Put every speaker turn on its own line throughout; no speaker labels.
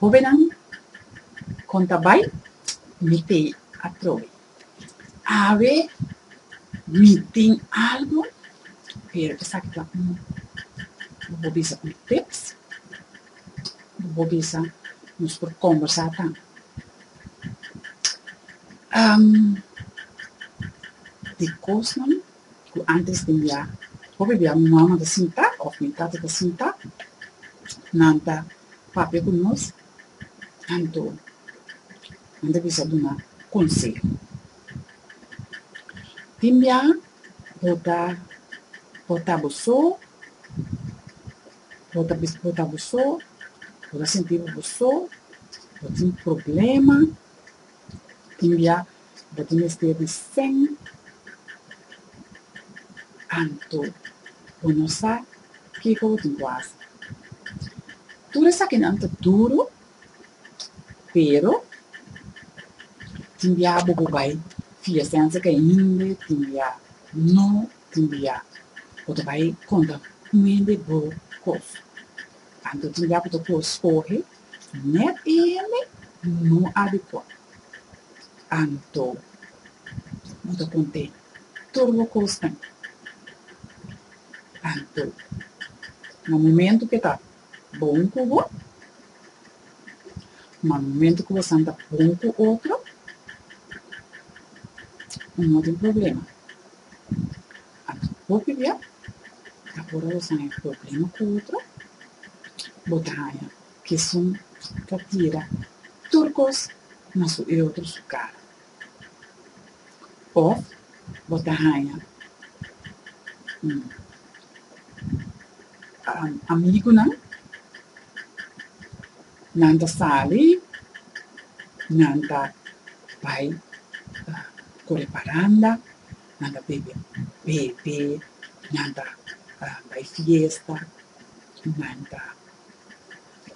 Hobennan kon ta bai mete atrobe. Awe mi tin algu, pero esaki ta un, bo por bisa un tips, bo por bisa nos por kombersá tambe. Di kosnan. cu antes den bia hopi bia mi mama ta sinta of mi tata ta sinta nan ta papia cu nos anto nan ta bisa duna conseho. Tin bia bo ta porta bo so, bo ta porta bo so, bo ta sinti bo bo so, bo tin problema. tin bia ta tin mester di sen anto bo no sa kico bo tin cu haci. Tur esakinan ta duro, pero tin bia bobo bay fia sensha ke hende tin bia no tin bia bo ta bay conta cu hende bo cos. Anto tin bia bo ta cu scoge. Net e hende no adekua. Anto bo ta kont'é tur bo kosnan. Anto na momentu ke ta bon ku bo, ma momentu ku bo san ta bon ku otro, no tin problema. Aki hopi bia ta ora los haña problema cu otro, bo ta haña cu esun ta tira tur cos na su y otro su cara. Of bo ta haña amigunan, nan ta sali, nan ta bay core paranda. nan ta bebe, bebe, nan ta bai fiesta, nan ta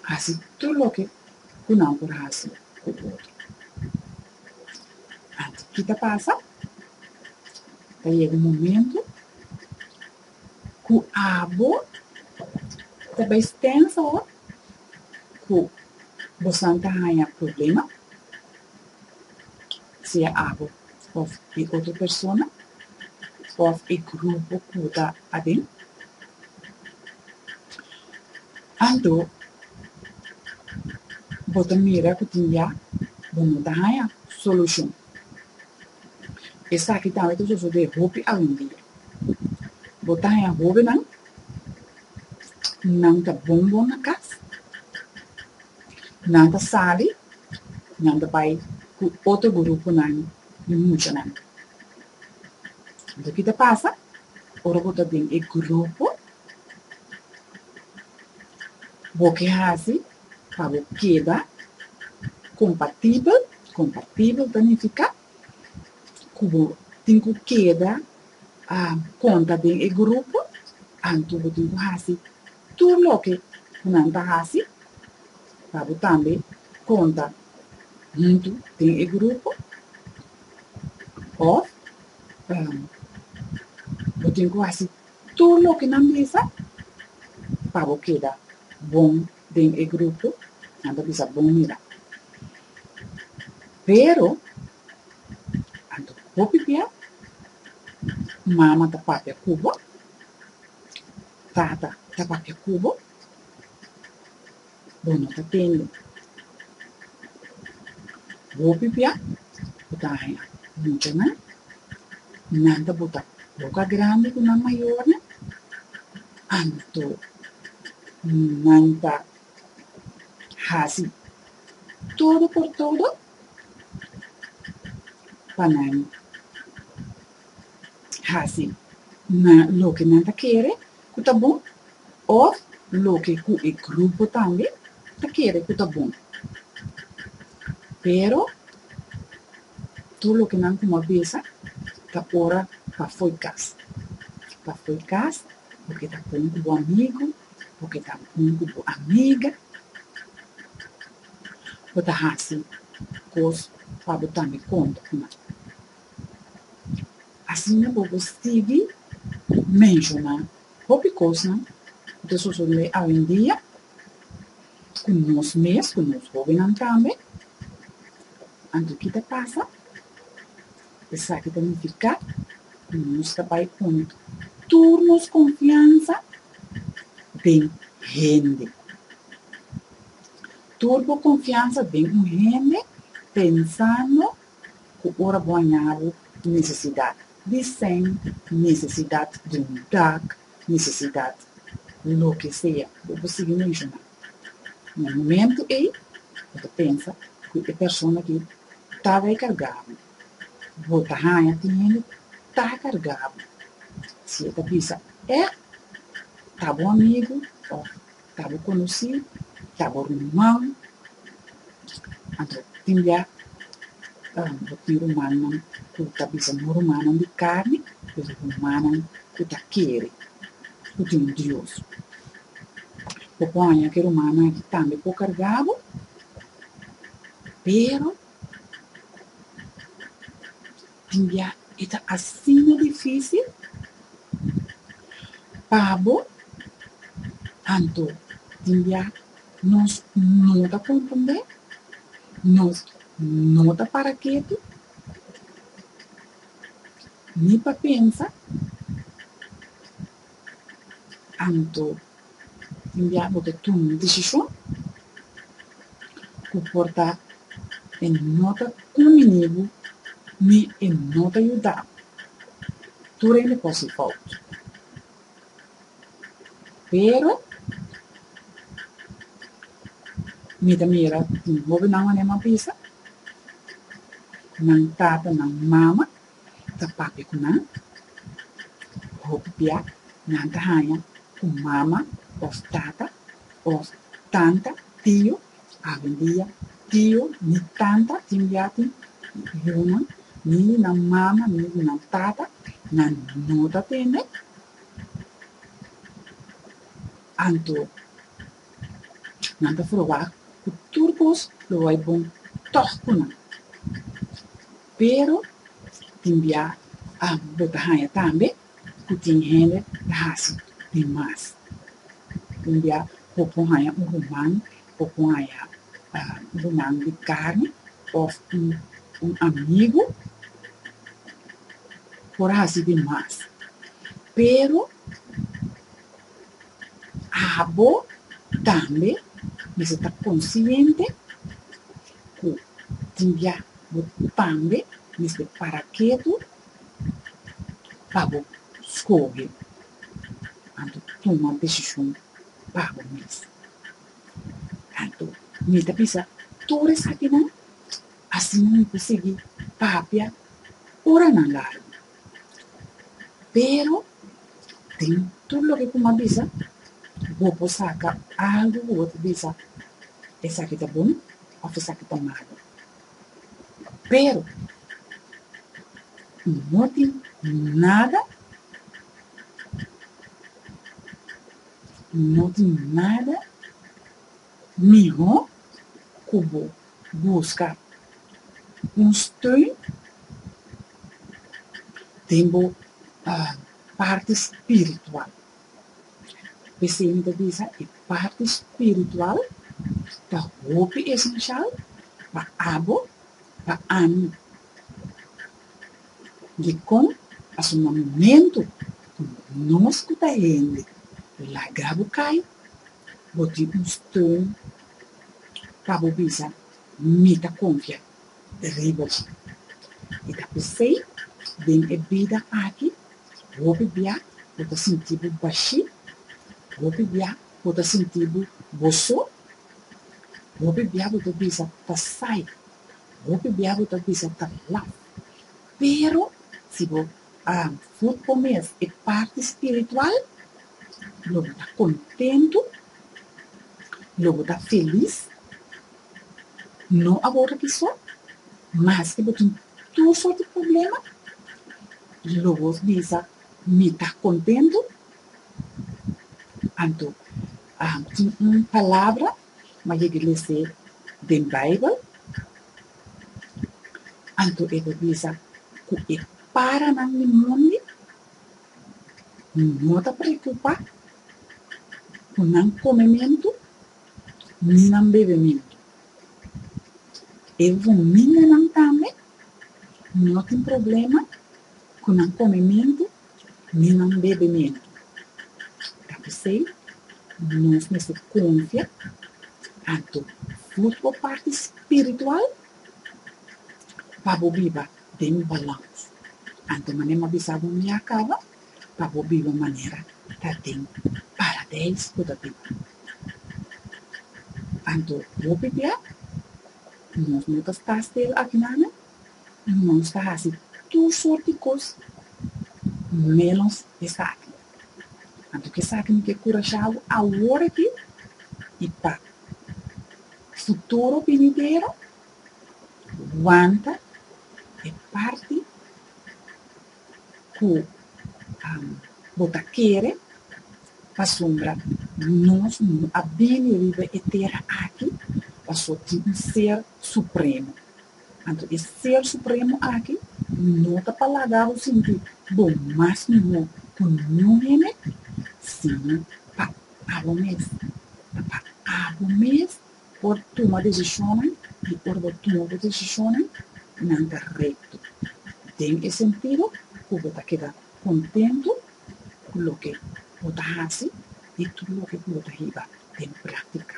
hasi tur loke ku nan por hasi ku otro. Anto ki ta pasa? Ta yega un momentu ku abo ta bai stènsa ora ku bosan ta haña problema. Sea abo of e otro persona of e grupo cu bo ta aden. Anto bo ta mira cu tin ya bo no ta haya solucion. Esaki tambe ta sosode hopi awendia. Bo ta haya hobennan cu nan ta bon bon na cas. Nan ta sali, nan ta bai ku otro gurupunan di muchanan. Anto ki ta pasa? Ora bo ta den e grupo, bo ke hasi pa bo keda kompatibel, kompatibel ta nifiká ku bo tin ku keda konta den e grupo, anto bo tin ku hasi Tur loke ku nan ta hasi, ta bo tambe konta huntu den e grupo? Òf bo tin ku hasi tur loke nan bisa pa bo keda bon den e grupo? Nan ta bisa bon mira. Pero anto ku bo pipia, mama ta papia ku bo. Tata, ta pa ke ku bo? Bo no ta tende. Bo pipia ku ta haña mucha nan, nan ta bota boka grandi ku nan mayornan, anto nan ta hasi todo por todo pa nan. hasi na loke nan ta kere ku ta bon òf loke ku e grupo tambe ta kere ku ta bon. Pero tur loke nan kuma besa ta ora pa fo'i kas, pa fo'i kas bo ke ta bon ku bo amigu, bo ke ta bon ku bo amiga, bo ta hasi kos pa bo tambe konta kuma. Asina bo por sigui menshoná hopi kosnan ku ta sosodé awendia ku nos mes, ku nos hóbennan tambe. Anto ki ta pasa? Esaki ta nifiká ku nos ta bai pone tur nos konfiansa den hende. Tur bo konfiansa den un hende pensando ku ora bo a ñaru nesesidat di sen, nesesidat di un dak, nesesidat di loke sea ku bo sigui menshoná. Na momentu ei bo ta pensa ku e persona ki tabata e kargá bo, bo ta haña tihende ta kargá bo. Si e ta bisa, Eh, ta bo amigu òf Ta bo konosí, ta bo ruman, anto tin bia bo tin rumannan ku ta bisa no rumannan di karni, pero rumannan ku ta kere, ku tin un Dios. Bo por haña ku e rumannan aki tambe por kargá bo, pero, Pabia e ta asina difísil pa bo? Anto, pabia nos no ta konprendé? Nos no ta para ketu ni pa pensa? Anto, mi bia bo ta tuma un desishon ku por ta e no ta kuminí bo ni e no ta yuda bo. Tur hende por hasi fout. Pero, mi ta mira tin hobennan wanneer mi a bisa, nan tatanan mama, ta papia ku nan, hopi bia nan ta haña ku mama òf tata òf tanta, tio, awendia tio ni tanta tin yatin di yunan, ni di nan mama ni di nan tata, nan no ta tende. Anto. Nan ta probá ku tur kos lo bai bon tòg ku nan. Pero, tin bia bo ta haña tambe ku tin hende ta hasi di mas. Tin bia bo por haña un ruman, bo por haña un ruman di karni òf un amigu por hasi di mas. Pero. Abo tambe mester ta konsiente ku tin bia bo tambe mester para ketu pa bo skohe anto tuma desishon pa bo mes. Anto, mi ta bisa tur esakinan, asina mi ta sigui papia oranan largu. Pero, den tur loke ku mi a bisa, bo por saka algu ku bo ta bisa, esaki ta bon òf esaki ta malu. Pero, no tin nada, no tin nada mihó ku bo. Buska un steun den bo parti spiritual. P'esei mi ta bisa e parti spiritual ta hopi esenshal pa abo, pa ami. Dikon? Pasobra na momentu ku nos ku ta hende laga bo kai, bo tin un steun. pa bo bisa, Mi ta konfia riba dje. I ta p'esei, den e bida aki, hopi bia bo ta sinti bo bashí, hopi bia bo ta sinti bo bo so, hopi bia bo ta bisa ta sai, hopi bia bo ta bisa ta laf. Pero si bo Grupo mes, e parti spiritual, lo bo ta kontentu, lo bo ta felis, no awor aki so, maske bo tin tur sort di problema, lo bo bisa, Mi ta kontentu. Anto tin un palabra ma yegi lese den Bijbel, anto e ta bisa cu e paranan di mundi no ta preocupa cu nan comementu ni nan bebementu. E fuminganan tambe no tin problema cu nan comementu Mi nan bebe mena. Ta p'esei nos mester konfia tantu frut bo parti spiritual pa bo biba den balans. Anto manera mi a bisa bo mi a kaba, pa bo biba manera ta den Paradeis ku ta biba. Anto bo pipia, nos no ta sta stil akí nan. nos ta hasi tur sorti kos ménos esaki. Anto ki esaki mi ke kurashado awor aki i pa futuro binidero, wanta e parti ku bo ta kere pasobra nos a bini riba e tera aki pasobra tin un Ser Supremo. Anto e Ser Supremo aki no ta pa laga bo sinti bo mas mihó ku ningún hende, sino pa abo mes. Ta pa abo mes por tuma desishonnan, i ora bo tuma bo desishonnan, nan ta rekto. Den e sentido ku bo ta keda kontentu ku loke bo ta hasi i tur loke ku bo ta hiba den práktika.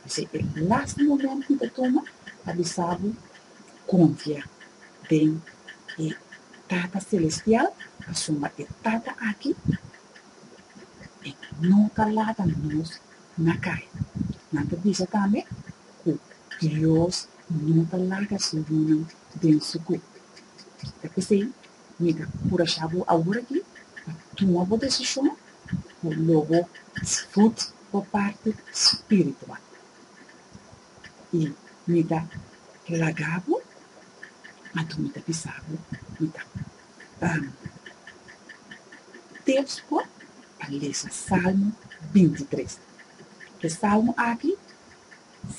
P'esei e lasta momento ku mi ta tuma pa bisa bo, konfia den e Tata Selestial pasobra e Tata aki e no ta lata nos na kai. Nan ta bisa tambe ku Dios no ta laga su yunan den su kue. Ta p'esei Mi ta curasha bo awor aki pa tuma bo decision cu lo bo sfut bo parti spiritual. Y mi ta plaga bo, anto mi ta bisa bo, mi ta ban tips bo pa lesa Salmo binti tres. E Salmo aki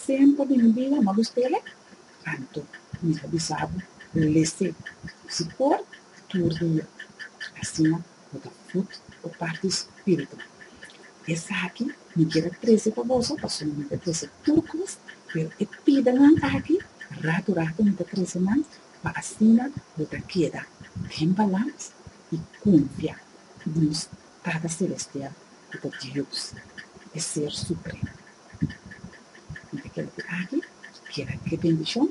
semper den mi bida, no lo spele. Anto, mi ta bisa bo, lese su por tur dia, asina bo ta fut bo parti spiritual. Esaki mi kier a trese pa boso, pasobra mi ta trese tur kos, pero e pidanan aki, ratu ratu mi ta trese nan, pa asina bo ta keda den balans i konfia nos. Tada Selestial ku ta Dios, e Ser Supremo. Mi ta kere ku aki keda e bendishon,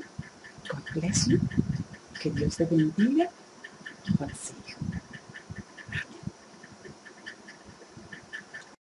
God bless you, ke Dios ta bendiga i konseh'e. Amen.